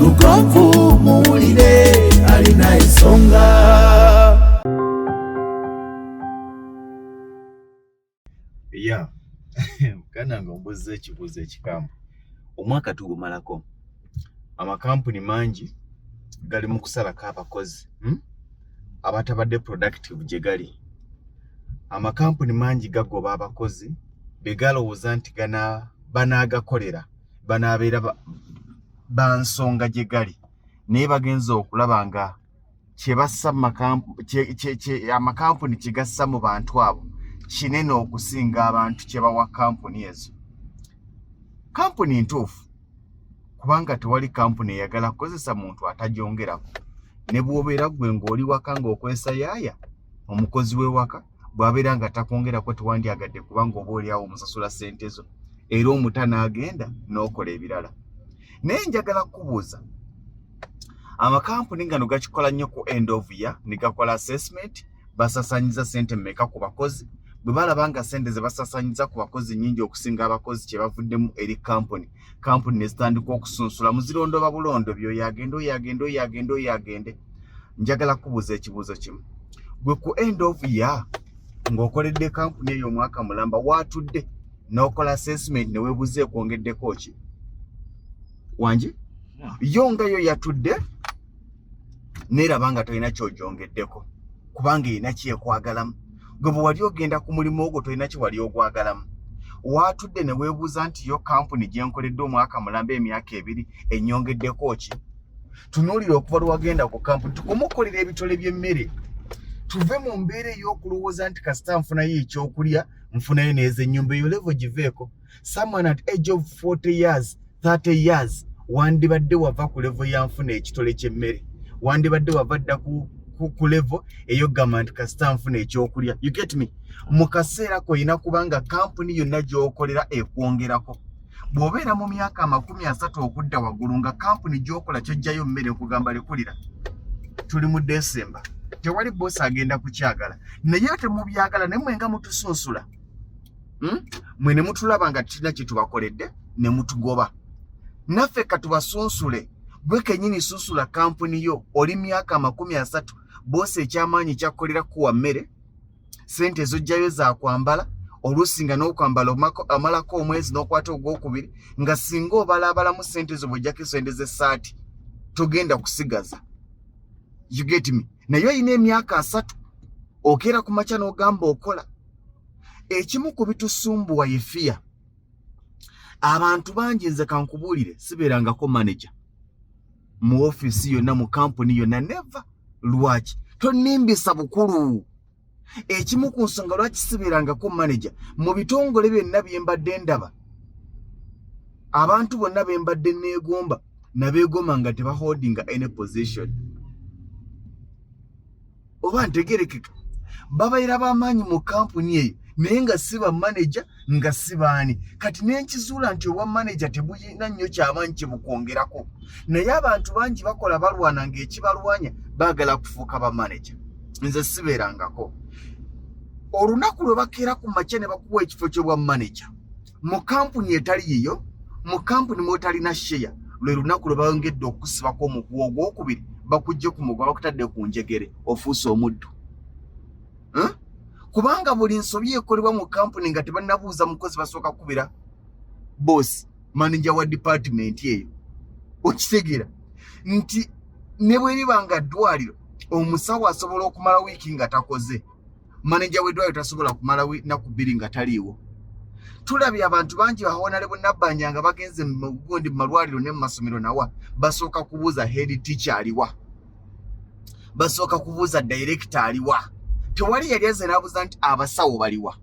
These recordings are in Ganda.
lugonvu muwulire alina ensonga ya muganda nga ombuuzza ekibuuzo ekikamu omwaka tugumalako amakampuni mangi gali mu kusalako abakozi hmm? abatabadde productive gye gali amakampuni mangi gagoba abakozi be galowooza nti banaagakolera banaabeera bansonga gye gali naye bagenza okulaba nga kyebassa amakampuni kyegassa mu bantu abo kinene okusinga abantu kyebawa kampuni ezo kampuni ntuufu kubanga tewali kampuni eyagala kukozesa muntu atajongerako ne bwobeera gwe ng'oli waka ng'okwesa yaaya omukozi w'ewaka bw'abeera nga takwongerako tewandyagadde kubanga oba oli awo omusasula ssente zo era omuta n'agenda n'okola ebirala naye njagala kukubuuza amakampuni ngano gakikola nnyo ku end of year ne gakola assessment basasanyiza ssente mmeka ku bakozi bwe balaba nga ssente ze basasanyiza ku bakozi nnyingi okusinga abakozi kye bavuddemu eri kampuni kampuni ne zitandika okusunsula muzirondooba bulondo byoyo agende oyo agende oyo agende oyo agende njagala kubuuza ekibuuzo kimu gwe ku end of year ng'okoledde kampuni eyo omwaka mulamba waatudde n'okola assessment ne weebuuza ekwongeddeko ki wangi yo nga yo yatudde neeraba nga tolina kyogyongeddeko kubanga erina kyekwagalamu gwe bwe wali ogenda ku mulimu ogwo tolina kye wali ogwagalamu waatudde ne weebuuza nti yo kampuni gye nkoledde omwaka mulamba emyaka ebiri ennyongeddeko ki tunuulira okuva lwe wagenda ku kampuni tukome okukolera ebitole by'emmere tuve mu mbeera ey'okulowooza nti kasita nfunayo ekyokulya nfunayo neeza ennyumba eyo levo giveeko someone at age of 40 years 30 years wandibadde wava ku levo ya nfuna ekitole ky'emmere wandibadde wava dda ku ku level eyo gamba nti kasita nfuna ekyokulya you get me mu kaseera kolina kubanga kampuni yonna gyokolera ekwongerako bw'obeera mu myaka amakumi asatu okudda waggulu nga kampuni gyokola kyojjayo mmere nkugamba lekulira tuli mu desemba tewali boosi agenda kukyagala naye ate mubyagala naye mwenga mutusunsula hmm? mwe ne mutulaba nga tulina kye tubakoledde ne mutugoba naffe katubasunsule gwe kenyini susula kampuni yo oli myaka amakumi asatu boosi ekyamaanyi kyakkolera kuwa mmere sente ezojjayo zakwambala oluusi nga n'okwambala amalako omwezi n'okwata ogwokubiri nga singa obalaabalamu sente ezo bwojjako esente z'essaati togenda kusigaza you get me naye olina emyaka asatu okeera ku makya n'ogamba okola ekimu ku bitusumbuwa ye fiya abantu bangi nze kankubuulire sibeerangako manaja mu ofiisi yonna mu kampuni yonna neva lwaki tonimbisa bukulu ekimu ku nsonga lwaki sibeerangako manaja mu bitongole byonna bye mbadde ndaba abantu bonna be mbadde neegomba nabeegoma nga tebaholdinga any position oba ntegerekeka babaira bamaanyi mu kampuni eyo naye nga si bamaneja nga si baani kati nenkizuula nti obwa maneja tebuyina nnyo kyabanyi kyebukwongerako naye abantu bangi bakola balwana ngaekibalwanya baagala kufuuka bamaneja nze sibeerangako olunaku lwe bakeera ku makya ne bakuwa ekifo kyobwa maneja mu kampuni etali yiyo mu kampuni mwotalina sheya lwe lunaku lwe bayongedde okusibako omuguwa ogwokubiri bakujje ku muguwa bakutadde ku njegere ofuuse omuddu kubanga buli nsobi ekolebwa mu kampuni nga tebanabuuza mukozi basooka kukubira boosi manaja wa dipatimenti eyo okitegeera nti ne bweriba nga ddwaliro omusawo asobola okumala wiiki nga takoze maneja w'eddwaliro tasobola kumala nnaku bbiri nga taliiwo tulabye abantu bangi bawonale bunabbanja nga bagenze mugundi mumalwaliro ne mumasomero nawa basooka kubuuza head teacher aliwa basooka kubuuza director aliwa tewali yali aze nabuuza nti abasawo baliwa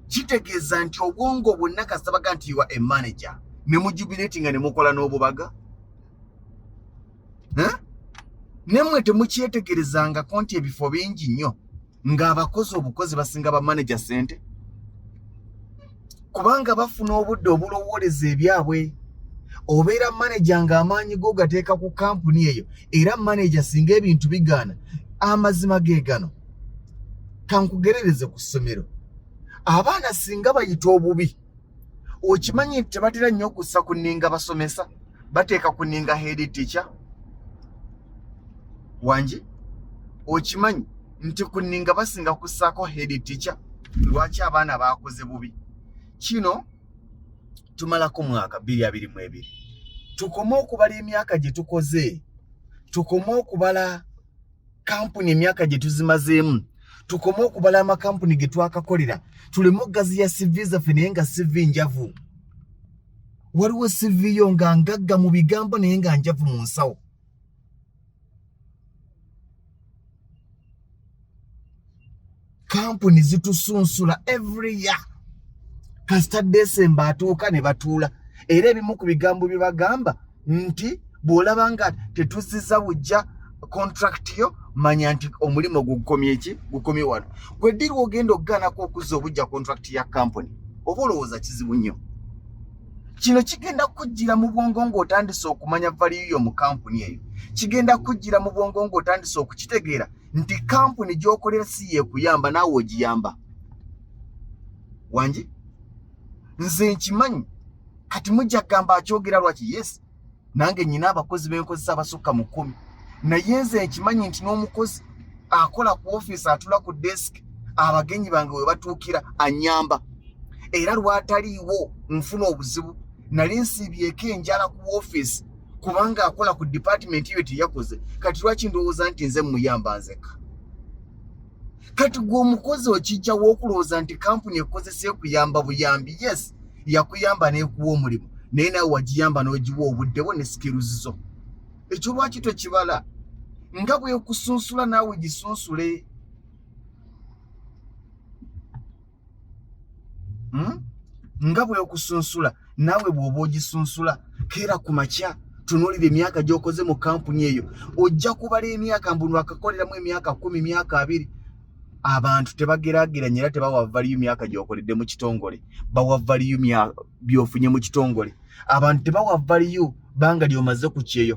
kitegeeza nti obwongo bwonna kasabaga nti wa emanaja ne mujubilatinga ne mukola n'obubaga nemwe temukyetegerezangako nti ebifo bingi nnyo ng'abakozi obukozi basinga bamaneja sente kubanga bafuna obudde obulowooleza ebyabwe obeera maneja ng'amaanyi go gateeka ku kampuni eyo era maneja singa ebintu bigaana amazima ge gano kankugerereze ku ssomero abaana singa bayita obubi okimanyi nti tebatera nnyo okussa ku nninga basomesa bateeka ku nninga head teacher wangi okimanyi nti ku nninga basinga kussaako head teacher lwaki abaana baakoze bubi kino tumalako mwaka bbiri abiri mu ebiri tukome okubala emyaka gye tukoze tukome okubala kampuni emyaka gye tuzimazeemu tukome okubala amakampuni ge twakakolera tuleme okugaziya sivi zaffe naye nga sivi njavu waliwo sivi yo nga ngagga mu bigambo naye nga njavu mu nsawo kampuni zitusunsula every year kasita desemba atuuka ne batuula era ebimu ku bigambo bye bagamba nti bw'olaba nga tetuziza bujja contract yo manya nti omulimu gukomye ki gukomye wano gwe diri ogenda okugaanako okuzza obujja contract ya kampuni oba olowooza kizibu nnyo kino kigenda kujjira mu bwongo ng'otandise okumanya valiyo yo mu kampuni eyo kigenda kujjira mu bwongo ng'otandise okukitegeera nti kampuni gyokolera si yekuyamba naawe ogiyamba wangi nze nkimanyi kati mujja kugamba akyogera lwaki yes nange nyina abakozi benkozesa abasukka mu kkumi naye nze nkimanyi nti n'omukozi akola ku ofiisi atula ku desiki abagenyi bange we batuukira anyamba era lwataliiwo nfuna obuzibu nali nsiibyeko enjala ku ofiisi kubanga akola ku department yo teyakoze kati lwaki ndowooza nti nze muyamba nzeka kati gwe omukozi okijjawo okulowooza nti kampuni ekozesa ekuyamba buyambi yes yakuyamba nekuwa omulimu naye nawe wagiyamba nogiwa obudde bwo ne skills zo ekyo lwaki tokibala nga bwekusunsula naawe gisunsule hmm? nga bweokusunsula naawe bw'oba ogisunsula keera ku makya tunuulira emyaka gy'okoze mu kampuni eyo ojja kubala emyaka mbu nwakakoleramu emyaka kumi myaka abiri abantu tebagerageranya era tebawa valiyo myaka gy'okoledde mu kitongole bawa valiyo byofunye mu kitongole abantu tebawa valiyo banga lyomaze ku kyeyo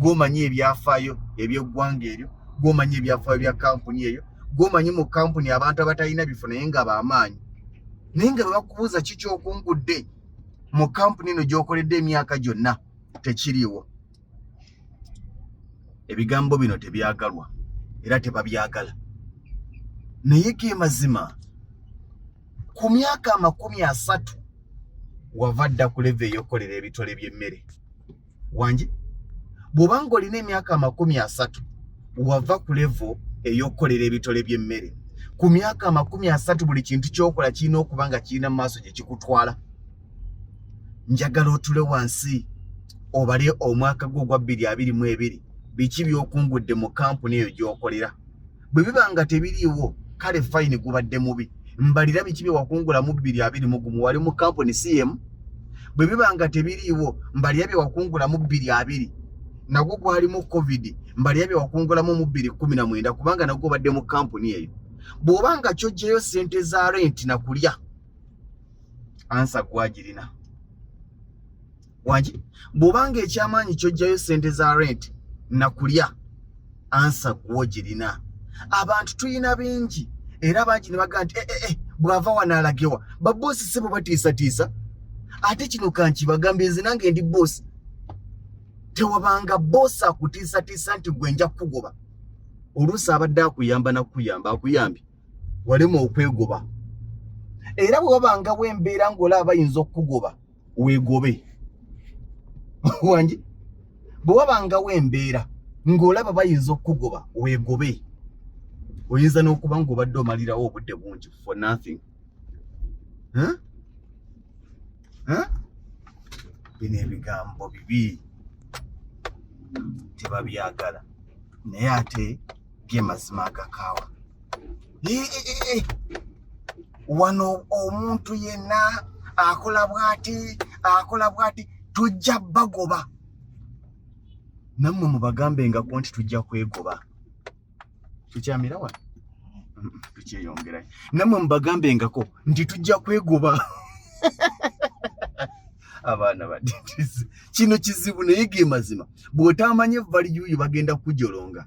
gwomanyi ebyafaayo ebyeggwanga eryo gwomanyi ebyafaayo bya kampuni eyo gwomanyi mu kampuni abantu abatalina bifo naye nga bamaanyi naye nga bebakubuuza ki kyokungudde mu kampuni eno gyokoledde emyaka gyonna tekiriiwo ebigambo bino tebyagalwa era tebabyagala naye ge mazima ku myaka amakumi asatu wava dda kuleva eyokukolera ebitole by'emmere wangi bw'obanga olina emyaka amakumi asatu wava ku levo ey'okukolera ebitole by'emmere ku myaka amakumi asatu buli kintu kyokola kirina okuba nga kirina mu maaso gye kikutwala njagala otule wansi obale omwaka gwo ogwa bbiri abiri mu ebiri biki byokungudde mu kampuni eyo gyokolera bwe biba nga tebiriiwo kale fayini gubadde mubi mbalira biki bye wakungula mu bbiri abiri mu gumu wali mu kampuni si yemu bwe biba nga tebiriiwo mbalira bye wakungula mu bbiri abiri nagwo gwalimu covid mbalira bye wakungulamu mu bbiri kumi na mwenda kubanga nagwo obadde mu kampuni eyo bw'oba nga kyojjeyo ssente za renti na kulya ansa gwagirina wangi bw'obanga ekyamaanyi kyojjayo ssente za rent nakulya ansa gwo girina abantu tulina bingi era bangi ne bagaa nti ee eh, eh, eh, bw'ava wano alagewa baboosi si bwe batiisatiisa ate kino kankibagambye nze nange ndi boosi tewabanga boosi akutiisatiisa nti gwe nja kukugoba oluusi abadde akuyamba nakukuyamba akuyambye walema okwegoba era bwe wabanga bwembeera ng'olaaba ayinza okukugoba weegobe wangi bwe wabangawo embeera ng'olaba bayinza okukugoba weegobe oyinza n'okuba ng'obadde omalirawo obudde bungi for nothing huh? Huh? bino ebigambo bibi tebabyagala naye ate ge mazima agakaawa wano omuntu yenna akola bwati akola bwati tujja bagoba nammwe mubagambengaku nti tujja kwegoba tukyamira wano tukyeyongerayo nammwe mubagambengako nti tujja kwegoba abaana badidisi kino kizibu naye ge mazima bw'otaamanye valiyuuyu bagenda kujolonga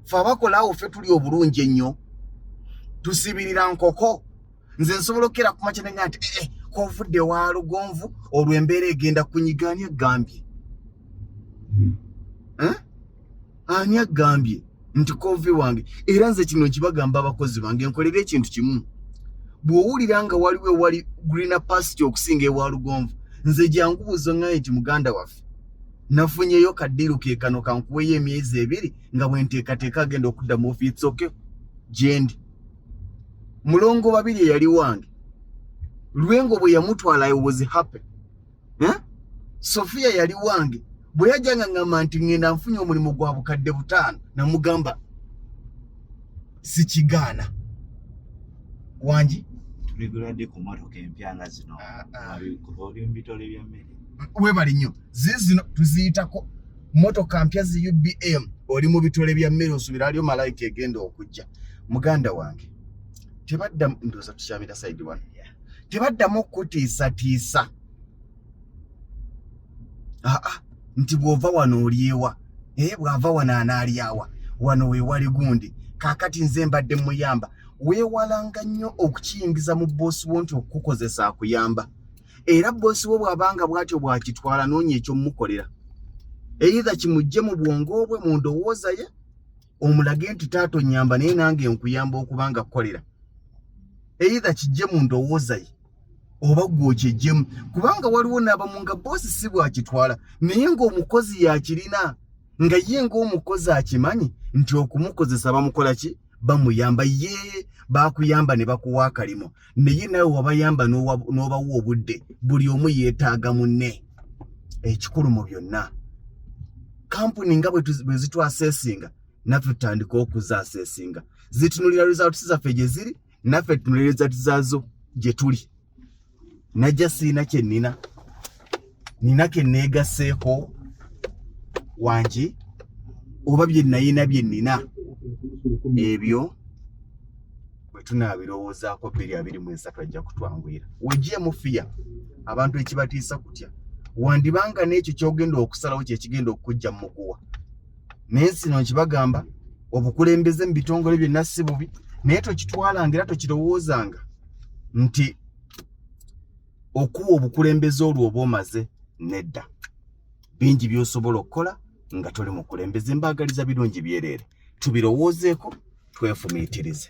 fe abakola awo fe tuli obulungi ennyo tusibirira nkoko nze nsobola okukera ku makya nenya nti ee eh, kovudde wa lugonvu olwo embeera egenda kunyiga ani agambye eh? ani agambye nti kovi wange era nze kino nkibagamba abakozi bange nkolera ekintu kimu bw'owulira nga waliwo ewali green pasture okusinga ewa lugonvu nze jangu buuzo ŋŋaye nti muganda waffe nafunyeyo kaddiiru ke kano kankuweyo emyezi ebiri nga bwenteekateeka agenda okudda mu ofiisi oke gyendi mulongo babiri eyali wange lwengo bwe yamutwala i was happy eh? sofiya yali wange bwe yajjanga ngamba nti ŋŋenda nfunye omulimu gwa bukadde butaano namugamba sikigaana wangi tuligulade ku motoka empya nga zino ah, ah. oli mu bitole by'emmere webali nnyo zizino tuziyitako motoka mpya zi ubm oli mu bitole bya mmere osubira aliyo malayika egenda okujja muganda wange tebadda ndoza tukyamira saidi wano tebaddamu okutiisatiisa ah, ah, nti bw'ova wano olyewa eh, bw'ava wano anaalyawa wano weewali gundi kaakati nze mbadde muyamba weewalanga nnyo okukiyingiza mu bboosi wo nti okukukozesa akuyamba era bboosi wo bw'abanga bw'atyo bw'akitwala noonya eky'omukolera eitha kimujje mu bwongo bwe mu ndowooza ye omulage nti taata onnyamba naye nange nkuyamba okuba nga kukolera eitha kijje mu ndowooza ye oba gwokyejjemu kubanga waliwo n'abamu nga boosi si bwakitwala naye ng'omukozi yakirina nga ye ng'omukozi akimanyi nti okumukozesa bamukola ki bamuyamba ye bakuyamba ne bakuwa akalimo naye nawe wabayamba n'obawa obudde buli omu yeetaaga munne ekikulu mu byonna kampuni nga bwe zitwaseesinga naffe tutandika okuzaseesinga zitunulira results zaffe gye ziri naffe tunolereza tizaazo gye tuli najja siina kye nina nina ke neegaseeko wangi oba bye nayina bye nina ebyo bwe tunaabirowoozaako bbiri abiri mu esatu ajja kutwanguyira wejje mufiya abantu ekibatiisa kutya wandibanga n'ekyo kyogenda okusalawo kyekigenda okukujja mu muguwa naye sino nkibagamba obukulembeze mu bitongole byonna si bubi naye tokitwalanga era tokirowoozanga nti okuwa obukulembeze olwo oba omaze nedda bingi byosobola okukola nga toli mukulembeze mbaagaliza birungi byereere tubirowoozeeko twefumiitirize